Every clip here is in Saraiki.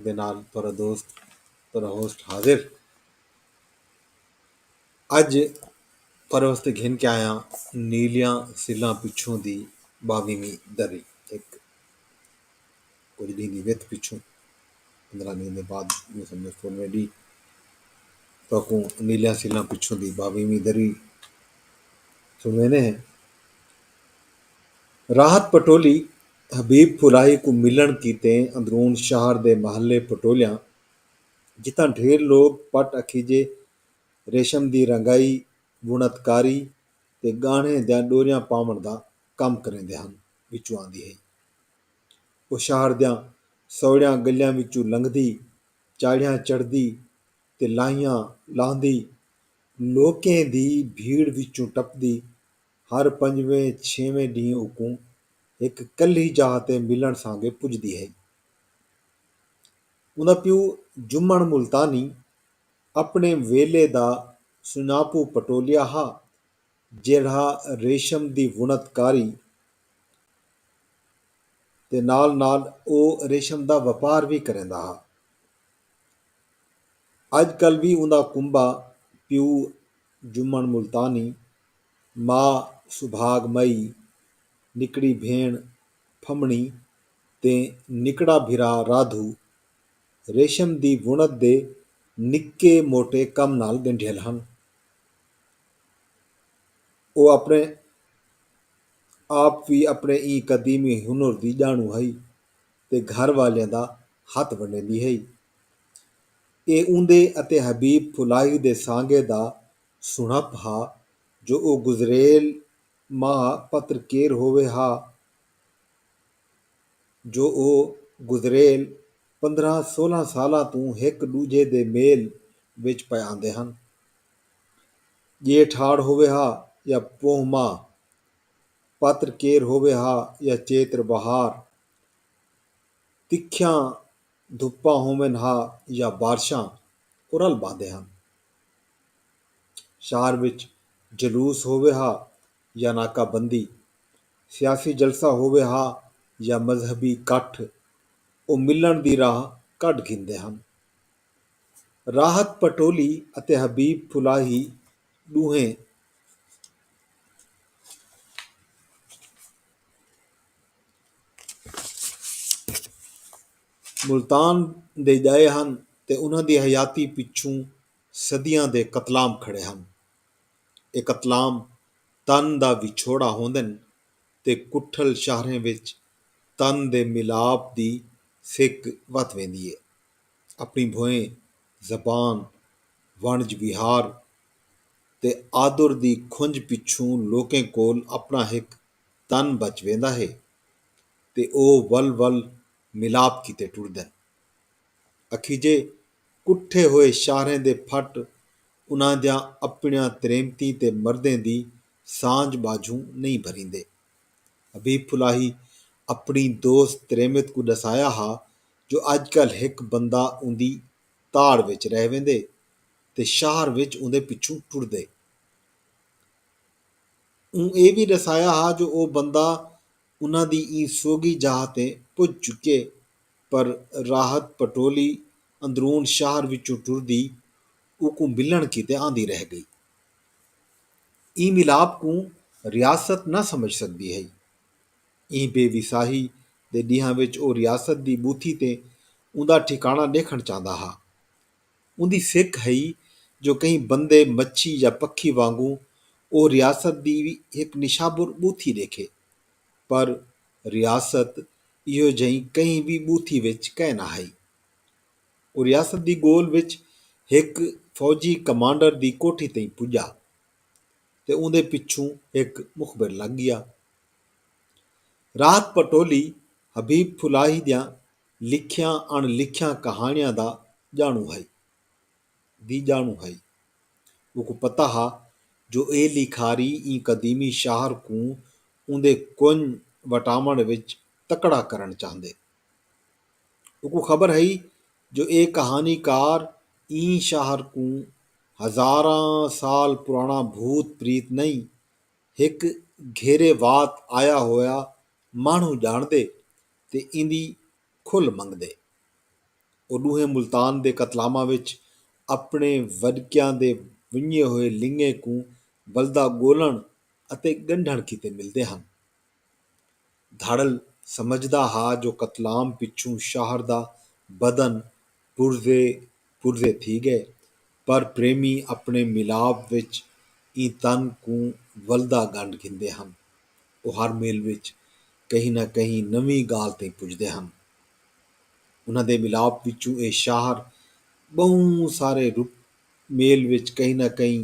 دے نال تہاڈا دوست تہاڈا ہوسٹ حاضر اج تہاڈے واسطے گھن کے آیاں نیلیاں سلاں پچھوں دی باویہویں دری ہک کجھ ڈینہہ دی وتھ پچھوں پندرہ ڈینہہ دے بعد میں سمجھو سولہویں ڈینہہ تہاکوں نیلیاں سلاں پچھوں دی باویہویں دری سنوینے ہیں راحت پٹولی حبیب پھولائی کوں ملنڑ کیتے اندرون شہر دے محلے پٹولیاں جتھاں ڈھیر لوگ پٹ اکھیجے ریشم دی رنگائی، وݨت کاری تے ڳاہݨیں دیاں ݙوریاں پاوݨ دا کم کریندے ہن وچوں آندی ہئی۔ او شہر دیاں سوڑیاں ڳلیاں وچوں لنگھدی، چاڑھیاں چڑھدی تے لاہیاں لاہندی، لوکیں دی بھیڑ وچوں ٹپدی ہر پنجویں چھیویں ڈینہہ اوکوں ہک کلھی جاہ تے ملݨ سانگے پجدی ہئی۔ اوندا پیو جمن ملتانی اپݨے ویلھے دا سنڄاپو پٹولیا ہا جیڑھا ریشم دی وݨت کاری تے نال نال او ریشم دا وپار وی کریندا ہا۔ اڄ کل وی اوندا کنبہ پیو جمن ملتانی ما سبھاگ مئی، نکڑی بھیݨ پھمݨی تے نکڑا بھرا رادھو ریشم دی وݨت دے نکے موٹے کم نال ڳنڈھیل ہن۔ او اپݨے آپ وی اپݨے ایں قدیمی ہنر دی ڄاݨوں ہئی تے گھر والیاں دا ہتھ ونڈیندی ہئی۔ اے اوندے اتے حبیب پھلاہی دے سانگے دا سݨپ ہا جو او گزریل ماہ پتر کیر ہووے ہا جو او گزریل پندرھاں سولھاں سالاں توں ہک ݙوجھے دے میل وچ پئے آندے ہن۔ ڄیٹھ ہاڑ ہووے ہا یا پوہ ماہ، پتر کیر ہووے ہا یا چیتر بہار، تکھیاں دھپاں ہوون ہا یا بارشاں، او رل ٻہندے ہن۔ شہر وچ جلوس ہووے ہا یا ناکہ بندی، سیاسی جلسہ ہووے ہا یا مذہبی کٹھ او ملݨ دی راہ کڈھ گھندے ہن۔ راحت پٹولی اتے حبیب پھلاہی ݙوہیں ملتان دے ڄائے ہن تے انہاں دی حیاتی پچھوں صدیاں دے قتلام کھڑے ہن۔ اے قتلام تن دا وچھوڑا ہوندن تے کٹھل شاہریں وچ تن دے ملاپ دی سک ودھ ویندی ہے۔ اپݨی بھوئیں، زبان، وݨج وہار تے آدر دی کھنج پچھوں لوکیں کول اپݨا ہک تن بچ ویندا ہے تے او ول ول ملاپ کیتے ٹردن۔ اکھیجے کٹھے ہوئے شاہریں دے پھٹ انہاں دیاں اپنڑیاں تریمتیں تے مردیں دی سانجھ ٻاجھوں نئیں بھریندے۔ حبیب پھلاہی اپنڑی دوست تریمت کوں ڈسایا ہا جو اج کل ہک بندہ اوندی تاڑ وچ رہ ویندے تے شاہر وچ اوندے پچھوں ٹردے۔ اوں اے وی ڈسایا ہا جو او بندہ انہاں دی ایں سوگھی جاہ تے پج چکے پر راحت پٹولی اندرون شہر وچوں ٹردی اوکوں ملنڑ کیتے آندی رہ گئی۔ ایں ملاپ کوں ریاست نہ سمجھ سگدی ہئی۔ ایں بے وساہی دے ڈینہاں وچ او ریاست دی بوتھی تے اوندا ٹھکانڑاں ڈیکھنڑ چاہندا ہا۔ اوندی فک ہئی جو کہیں بندے، مچھی یا پکھی وانگوں او ریاست دی وی ہک نشابر ٻوتھی ݙیکھے۔ پر ریاست ایہو جہیں کہیں وی ٻوتھی وچ کائے نہ ہئی۔ او ریاست دی ڳول وچ ہک فوجی کمانڈر دی کوٹھی تئیں پڄا تے اوندے پچھوں ہک مخبر لڳ ڳیا۔ رات پٹولی حبیب پھلاہی دیاں لکھیاں اݨ لکھیاں کہاݨیاں دا ڄاݨوں ہئی۔ دی ڄاݨوں ہئی۔ اوکوں پتہ ہا جو اے لیکھاری ایں قدیمی شاہر کوں اوندے کنڄ وٹاوݨ وچ تکڑا کرݨ چاہندے۔ اوکوں خبر ہئی جو اے کہاݨی کار ایں شاہر کوں ہزاراں سال پراݨا بھوت پریت نئیں، ہک گھیرے وات آیا ہویا ماݨوں ڄاݨدے تے ایندی کھل منگدے۔ او ݙوہیں ملتان دے قتلاماں وچ اپݨے وݙکیاں دے ونڄے ہوئے لنگیں کوں ولدا ڳولݨ اتے ڳنڈھݨ کیتے ملدے ہن۔ دھاڑل سمجھدا ہا جو قتلام پچھوں شاہر دا بدن پرزے پرزے تھی ڳئے پر پریمی اپݨے ملاپ وچ ایں تن کوں ولدا ڳنڈھ گھندے ہن۔ او ہر مل وچ کہیں نہ کہیں نویں ڳالھ تئیں پڄدے ہن۔ انہاں دے ملاپ وچوں اے شاہر ٻہوں سارے مل وچ کہیں نہ کہیں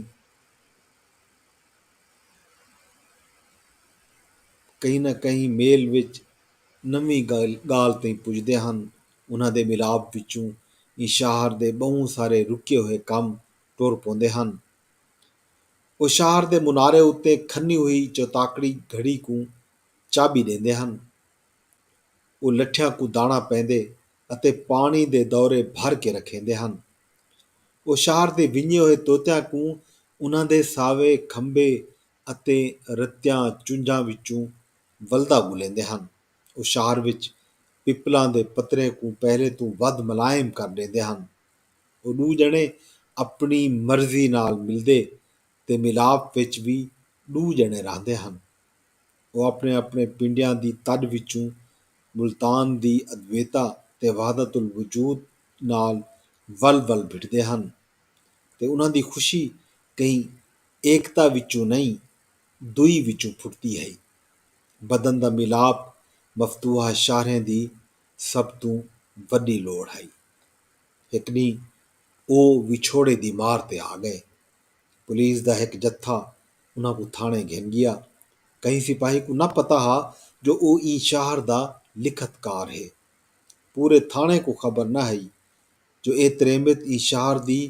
کہیں نہ کہیں مل وچ نویں ڳالھ تئیں پڄدے ہن۔ انہاں دے ملاپ وچوں ایں شاہر دے ٻہوں سارے رکے ہوئے کم ٹر پوندے ہن۔ او شاہر دے منارے اتے کھنی ہوئی چوتاکڑی گھڑی کوں چابی ݙیندے ہن۔ او لٹھیاں کوں داݨا پیندے اتے پاݨی دے دورے بھر کے رکھیندے ہن۔ او شاہر دے ونڄے ہوئے طوطیاں کوں انہاں دے ساوے کھمبے اتے رتیاں چنجھاں وچوں ولدا ڳلیندے ہن۔ او شہر وچ پپلاں دے پتریں کوں پہلے توں ودھ ملائم کر ݙیندے ہن۔ او ݙو ڄݨے اپݨی مرضی نال ملدے تے ملاپ وچ وی ݙو ڄݨے رہندے ہن۔ او اپݨے اپݨے پنڈیاں دی تݙ وچوں ملتان دی ادویتا تے وحدت الوجود نال ول ول بھٹدے ہن تے انہاں دی خوشی کہیں ایکتا وچوں نئیں، دوئی وچوں پھٹدی ہئی۔ بدن دا میلاپ مفتوحہ شاہریں دی سب توں وݙی لوڑھ ہئی۔ ہک ݙینہہ او وچھوڑے دی مار تے آ ڳئے۔ پولیس دا ہک جتھا انہاں کوں تھاݨے گھن ڳیا۔ کہیں سپاہی کوں نہ پتہ ہا جو او ایں شاہر دا لکھت کار ہے۔ پورے تھاݨے کوں خبر نہ ہئی جو اے تریمت ایں شاہر دی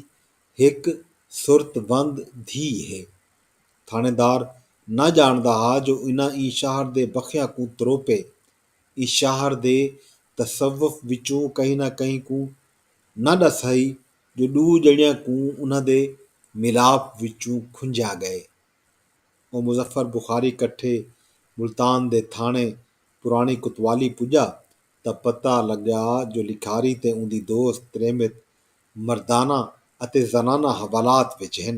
ہک سرت وند دھی ہے۔ تھاݨیدار نہ ڄاݨدا ہا جو انہاں ایں شہر دے بخیاں کوں تروپے ایں شہر دے تصوف وچوں کہیں نہ کہیں کوں نہ ݙس ہئی جو ݙو ڄݨیاں کوں انہاں دے ملاپ وچوں کھنجھیا ڳئے۔ او مظفر بخاری کٹھے ملتان دے تھاݨے پراݨی کوتوالی پڄا تاں پتہ لڳا جو لکھاری تے اوندی دوست تریمت مردانہ اتے زنانہ حوالات وچ ہن۔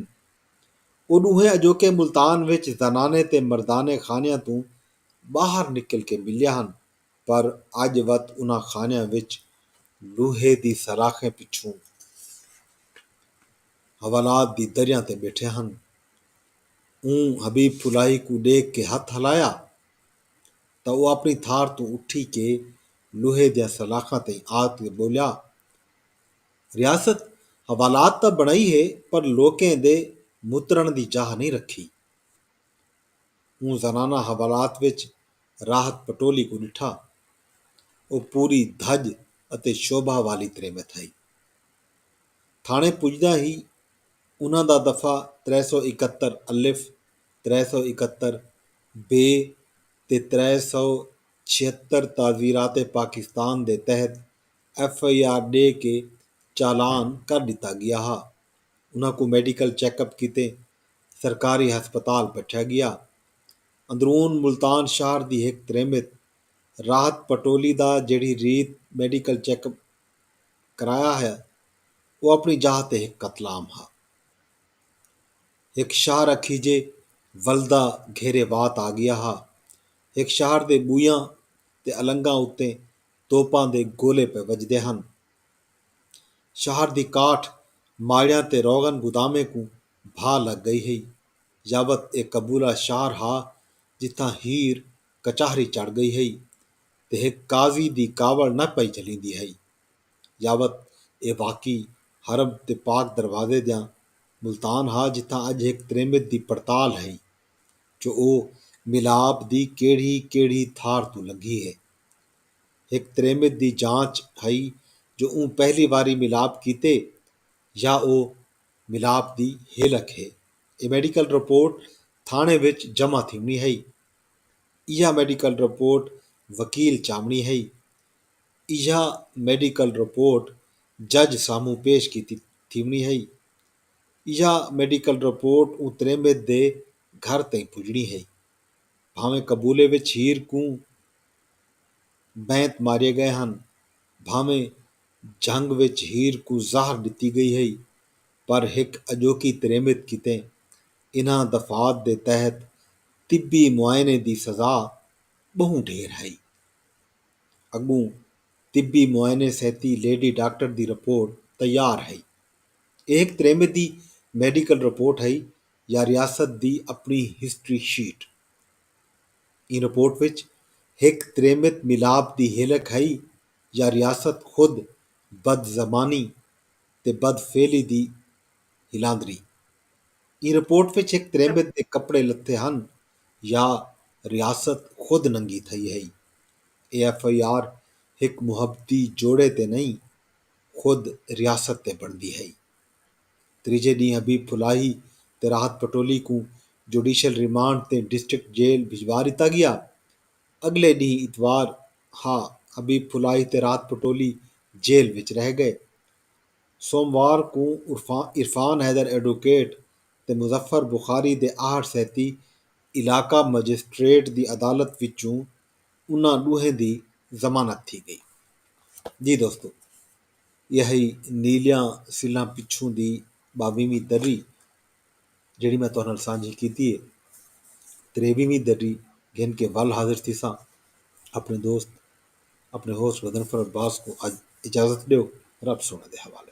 او ݙوہیں اڄوکے ملتان وچ زنانے تے مردانے خانیاں توں ٻاہر نکل کے ملیا ہن پر اڄ وت انہاں خانیاں وچ لوہے دی سلاخیں پچھوں حوالات دی دریاں تے ٻیٹھے ہن۔ اوں حبیب پھلاہی کوں ݙیکھ کے ہتھ ہلایا تاں او اپݨی تھار توں اٹھی کے لوہے دیاں سلاخاں تئیں آ تے ٻولیا۔ ریاست حوالات تاں بݨائی ہے پر لوکیں دے مترݨ دی جاہ نئیں رکھی۔ اوں زنانہ حوالات وچ راحت پٹولی کوں ݙٹھا۔ او پوری دھڄ اتے شوبھا والی ترے میں تھئی۔ تھاݨے پڄداں ہی انہاں دا دفعہ ترے سو اکہتر الف، ترے سو اکہتر بے تے ترے سو چھہتر تعزیرات پاکستان دے تحت ایف آئی آر ݙے کے چالان کر ݙتا ڳیا ہا۔ انہاں کوں میڈیکل چیک اپ کیتے سرکاری ہسپتال پٹھیا ڳیا۔ اندرون ملتان شہر دی ہک تریمت راحت پٹولی دا جیڑھی ریت میڈیکل چیک اپ کرایا ہا او اپݨی جاہ تے ہک قتل عام ہا۔ ہک شہر اکھیجے ولدا گھیرے وات آ ڳیا ہا۔ ہک شہر دے ٻویاں تے النگاں اتے توپاں دے گولے پئے وجدے ہن۔ شہر دی کاٹھ ماڑیاں تے روغن گودامیں کوں بھا لگ گئی ہئی۔ یابت اے قبولہ شہر ہا جتھاں ہیر کچہری چڑھ گئی ہئی تے ہک قاضی دی کاوڑ نہ پئی جھلیندی ہئی۔ یابت اے واقعی حرم تے پاک دروازے دیاں ملتان ہا جتھاں اڄ ہک تریمت دی پڑتال ہئی جو او ملاب دی کیڑھی کیڑھی تھار توں لنگھی ہے۔ ہک تریمت دی جانچ ہئی جو اوں پہلی واری ملاپ کیتے یا او ملاپ دی ہیلک ہے۔ اے میڈیکل رپورٹ تھاݨے وچ جمع تھیوݨی ہئی۔ ایہا میڈیکل رپورٹ وکیل چاوݨی ہئی۔ ایہا میڈیکل رپورٹ جج سامھوں پیش کیتی تھیوݨی ہئی۔ ایہا میڈیکل رپورٹ اوں تریمت دے گھر تئیں پڄݨی ہئی۔ بھانویں قبولے وچ ہیر کوں بینت ماریے گئے ہن، بھانویں جھنگ وچ ہیر کوں زہر ڈتی گئی ہئی، پر ہک اجوکی تریمت کیتے انہاں دفعات دے تحت طبی معائنے دی سزا بہوں ڈھیر ہئی۔ اگوں طبی معائنے سیتی لیڈی ڈاکٹر دی رپورٹ تیار ہئی۔ ایہ ہک تریمت دی میڈیکل رپورٹ ہئی یا ریاست دی اپݨی ہسٹری شیٹ۔ ایں رپورٹ وچ ہک تریمت ملاپ دی ہلک ہئی یا ریاست خود بدزمانی تے بدفعلی دی ہلاندری۔ ایں رپورٹ وچ ہک تریمت دے کپڑے لتھے ہن یا ریاست خود ننگی تھئی ہئی۔ اے ایف آئی آر ہک محبتی جوڑے تے نئیں خود ریاست تے بݨدی ہئی۔ تریجھے ڈینہہ حبیب پھلاہی تے راحت پٹولی کوں جوڈیشل ریمانڈ تے ڈسٹرکٹ جیل بھجوا ڈتا گیا۔ اگلے ڈینہہ اتوار ہا حبیب پھلاہی تے راحت پٹولی جیل وچ رہ گئے۔ سوموار کوں عرفان حیدر ایڈووکیٹ تے مظفر بخاری دے آہٹ سیتی علاقہ مجسٹریٹ دی عدالت وچوں انہاں ڈوہیں دی ضمانت تھی گئی۔ ایہی نیلیاں سلاں پچھوں دی ٻاویہویں درری جیڑھی میں تہاݙے نال سانجھی کیتی ہے۔ تریویہویں درری گھن کے ول حاضر تھیساں۔ اپݨے دوست اپݨے ہوسٹ غضنفر عباس کوں اڄ اجازت ݙیو۔ رب سونے دے حوالے۔